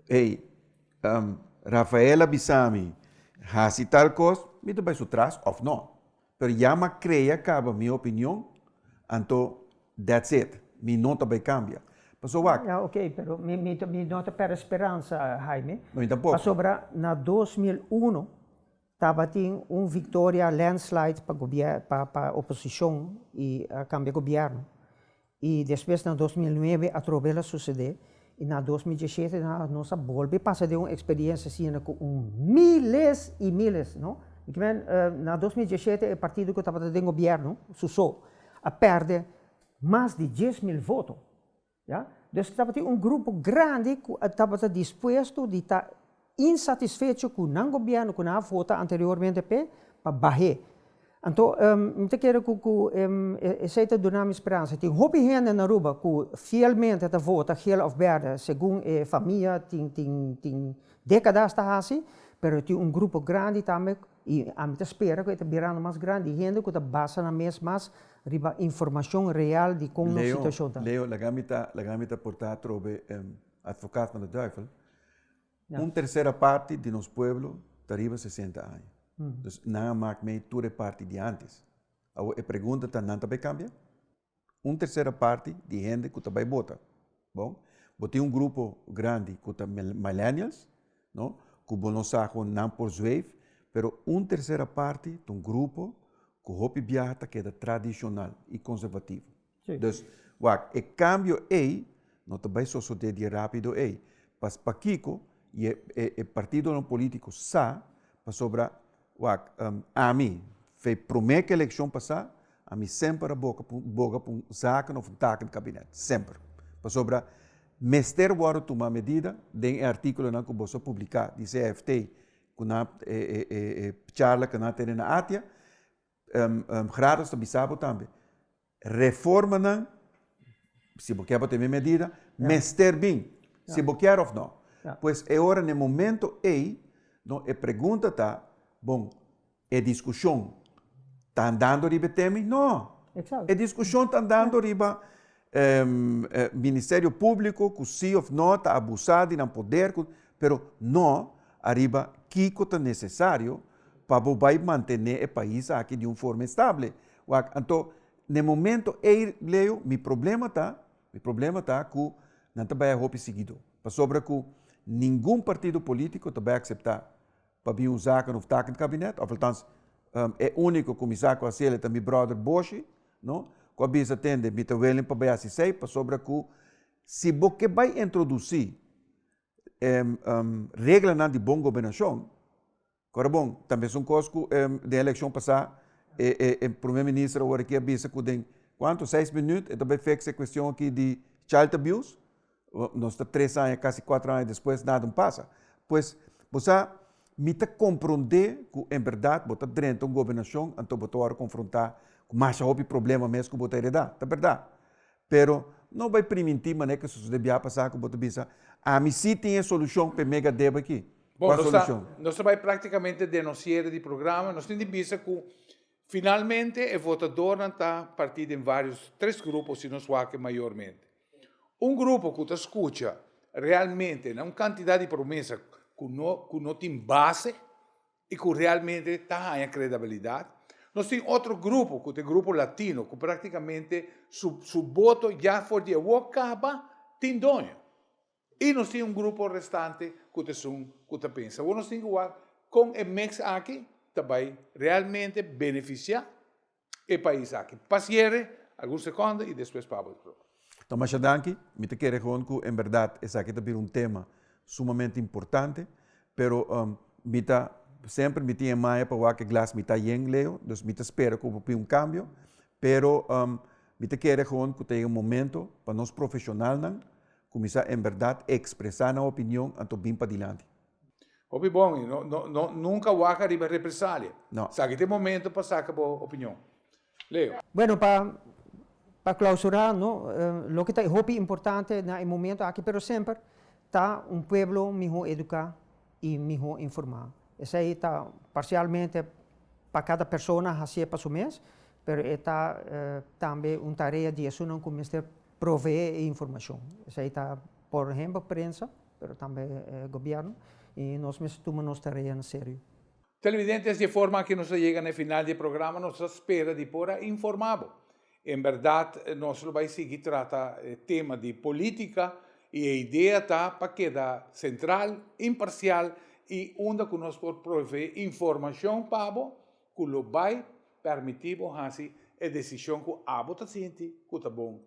ey, um, Rafael a bisa mi, hasi tal kos, mi ta bai su tras of no. Pero ya mi a krea kaba mi opinion, anto that's it. Mi no ta bai kambia. Pasobra. Ya, ok, pero mi, mi, mi no ta perde speransa, Haime. No, mi tampoco. Pasobra na dos mil uno, Tabatin un victoria landslide pa pa oposicion y a cambia gobierno. Y despues na dos mil nuebe atrobe el a sucede y na dos mil diecisiete nos a bolbe pasa den un experiencia asina cu un miles y miles no na dos mil diecisiete e partido cu tabata den gobierno su so a perde mas di dies mil voto. Ya. Dus tabatin un grupo grandi cu a tabata dispuesto di ta insatisfecho cu nan gobierno cu nan a vota anteriormente p'e, pa bahe. Anto, mi ta kere cu cu esey ta duna mi speransa. Tin hopi hende na Aruba cu fielmente ta vota geel of berde segun e famia tin tin tin decadas ta haci, pero tin un grupo grandi tambe I ami ta spera ku e ta birando mas grandi, i hende ku ta basa nan mes mas riba informashon real di kon nos situashon ta. Leo, laga mi ta, laga mi ta portá atrobe e atvokat van de duivel. Un tersera parti di nos pueblo ta riba sesenta aña. Dus nan a mak mee tur e parti di antes. Awo e pregunta ta, nan ta bai kambia? un tercera parti di hende ku ta bai bota bon bo tin un grupo grandi ku ta millennials no ku bo no sa kon nan por zweif pero un tercera parti ta un grupo ku hopi biaha ta keda tradishonal i konservativo dus wak e kambio ei no ta bai sosode dia rapido ei pas pakiko e partidonan politiko sa pasobra. Wak, ami, fe promé ku elekshon pasá, ami semper a boga pa boga pa un zaken òf un tak di kabinet. Semper. Pasobra mester wòrdu tumá medida den e artíkulonan ku boso a publiká di CIFT ku nan e charla ku nan a tene na Atia. Grados ta bisa bo tambe reformanan, si bo ke pa tene medida, mester bin, si bo kier of no. Pues e ora, na e momento ei, no e pregunta ta, bon, e diskushon ta andando riba e teme? No! E diskushon ta andando riba Ministerio Públiko ku sí òf nò ta abusá di nan poder, pero nò ariba kiko ta nesesario pa bo bai mantené e pais aki di un forma estable. Wak, anto na e momento ei, Leo, mi problema ta, mi problema ta ku nan ta bai a hopi siguidó. Pasobra ku ningun partido polítiko ta bai akseptá. Pabia un zaken of taken di kabinet of altans e uniko ku mi sa ku hasiel e ta mi bròder Boshi no ku a bisa tende mi ta willing pa bai hasi esei pasobra ku si bo ke bai introdusí e reglanan di bon gobernashon kòrda bon ta mesun kos ku den elekshon pasá e prome minister awor aki a bisa ku den kuantu seis minüt e ta bai fix e kuestion aki di child abuse. nos ta tres aña casi cuatro aña despues nada un pasa pues bo sa mi ta compronde cu en berdad bo ta drenta un gobernacion anto bo ta wor confronta cu masha hopi problema mes cu bo ta hereda ta berdad pero no bay priminti manera cu su cede bia pasa cu bo ta bisa ami si tin e solucion p'e mega debe aki bo a solucion. Bo nos ta bay practicamente den nos cierre di programa nos tin di bisa cu finalmente e votadornan ta parti den varios tres grupo si no es wak e mayormente. Un grupo ku ta skucha realmente na un kantidat di promesa ku no ku no tin base i ku realmente ta haña kredabilidat. Nos tin otro grupo ku ta e grupo latino ku praktikamente su su boto ya for di awor kaba tin doño. I nos tin un grupo restante ku ta esun ku ta pensa. Awor nos tin ku wak kon e meks aki ta bai realmente benefisiá e pais aki. Pasiere, algun sekondo i despues Pablo ta proba. Ta masha danki. Mi ta kere gewoon ku en bèrdat esaki ta bira un tema sumamente importante, pero mi ta semper mi tin e maya pa wak e glas mitá yen, Leo, dus mi ta spera ku por bini un kambio, pero mi ta kere gewoon ku ta yega momento pa nos profeshonalnan Cuminsa en berdad expresa nan opinion anto bin padilanti. Hopi bon y no no nunca waca riba represalia. No. Sa aki ta e momento pa saca bo opinion. Leo. Bueno pa pa clausura no loke ta e hopi importante na e momento aki pero semper ta un pueblo miho educa y miho informa. Esey ta parcialmente pa cada persona hacié pa su mes pero e ta tambe un tarea di esunnan cu mester proveé e informashon. Esei ta por ehempel prensa, pero tambe e gobièrnu, i nos mester tuma nos tareanan serio. Televidentes, di e forma aki nos ta yega na e final di e programa, nos ta spera di por a informá bo. En bèrdat nos lo bai sigui trata e tema di polítika i e idea ta pa keda sentral, imparsial i unda ku nos por proveé informashon pa bo ku lo bai permití bo hasi e desishon ku abo ta sinti ku ta bon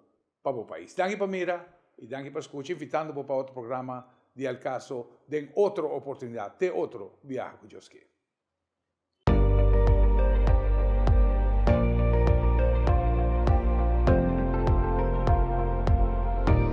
pa bo pais. Danki pa mira i danki pa skucha, invitando bo pa otro programa di El Caso den otro oportunidat, te otro biaha ku Dios ke.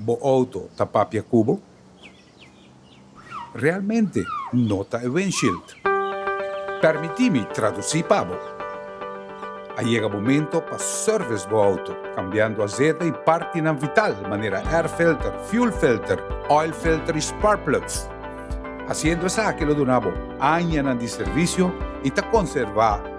Bo auto ta papia cu bo? Realmente no ta e windshield. Permiti mi traduci pa bo. A yega momento pa service bo auto, cambiando azete y partinan vital manera air filter, fuel filter, oil filter y spark plugs. Haciendo esaki lo duna bo añanan di servicio y ta conserva.